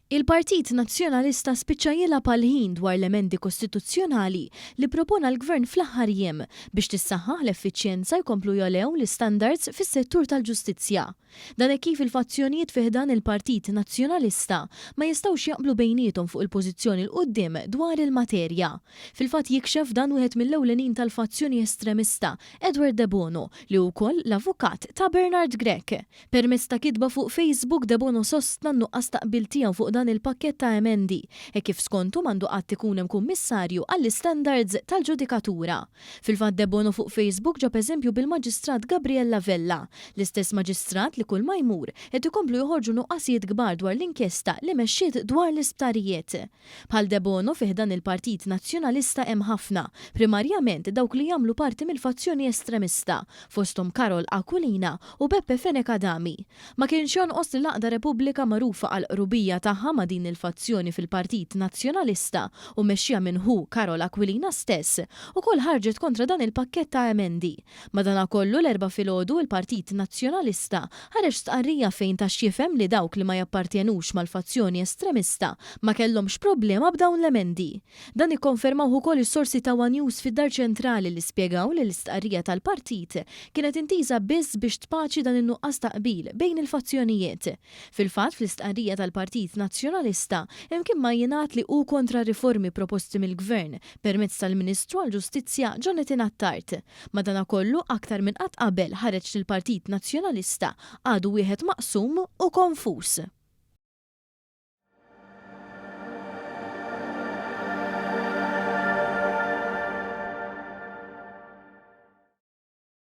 Il-Partit Nazzjonalista spiċċa jilgħab għall-ħin dwar l-emendi kostituzzjonali li ppropona l-Gvern fl-aħħar jiem biex tissaħħaħ l-effiċjenza jkomplu jogħlew l-istandards fis-settur tal-ġustizzja. Dan hekk kif il-fazzjonijiet fi ħdan il-Partit Nazzjonalista ma jistgħux jaqblu bejniethom fuq il-pożizzjoni 'l quddiem dwar il-materja. Fil-fatt jikxef dan wieħed mill-ewlenin tal-fazzjoni estremista, Edward Debono, li hu wkoll l-avukat ta' Bernard Grech. Permezz ta' kitba fuq Facebook, Debono sostna n-nuqqas ta' qbil tiegħu fuq dan il-pakkett ta' emendi, hekk kif skontu m'għandu qatt ikun hemm kummissarju għall-istandards tal-ġudikatura. Fil-fatt Debono fuq Facebook ġab eżempju bil-Maġistrat Gabriella Vella, l-istess Maġistrat li kulma jmur qed ikomplu joħorġu nuqqasijiet kbar dwar l-inkjesta li mexxiet dwar l-isptarijiet. Bħal Debono fi ħdan il-Partit Nazzjonalista hemm ħafna, primarjament dawk li jagħmlu parti mill-fazzjoni estremista, fosthom Karol Aquilina u Beppe Fenech Adami. Ma kienx jonqos li l-Għaqda Repubblika magħrufa għall-qrubija tagħha ma' din il-fazzjoni fil-Partit Nazzjonalista u mmexxija minn ħu Karol Aquilina stess, ukoll ħarġet kontra dan il-pakkett ta' emendi. Madanakollu l-Erbgħa filgħodu l-Partit Nazzjonalista ħareġ stqarrija fejn ta x'jifhem li dawk li ma jappartjenux mal-fazzjoni estremista ma kellhomx problema b'dawn l-emendi. Dan ikkonfermawh ukoll is-sorsi ta' one News fid-Dar Ċentrali li spjegaw li l-istqarrija tal-Partit kienet intiża biss biex tpaċi dan in-nuqqas ta' qbil bejn il-fazzjonijiet. Fil-fatt fl-istqarrija tal-Partit Nazzjonalista imkien ma jingħad li hu kontra riformi proposti mill-Gvern permezz tal-Ministru għall-Ġustizzja Jonathan Attard. Madanakollu, aktar minn qatt qabel ħareġ li l-Partit Nazzjonalista għadu wieħed maqsum u konfuż.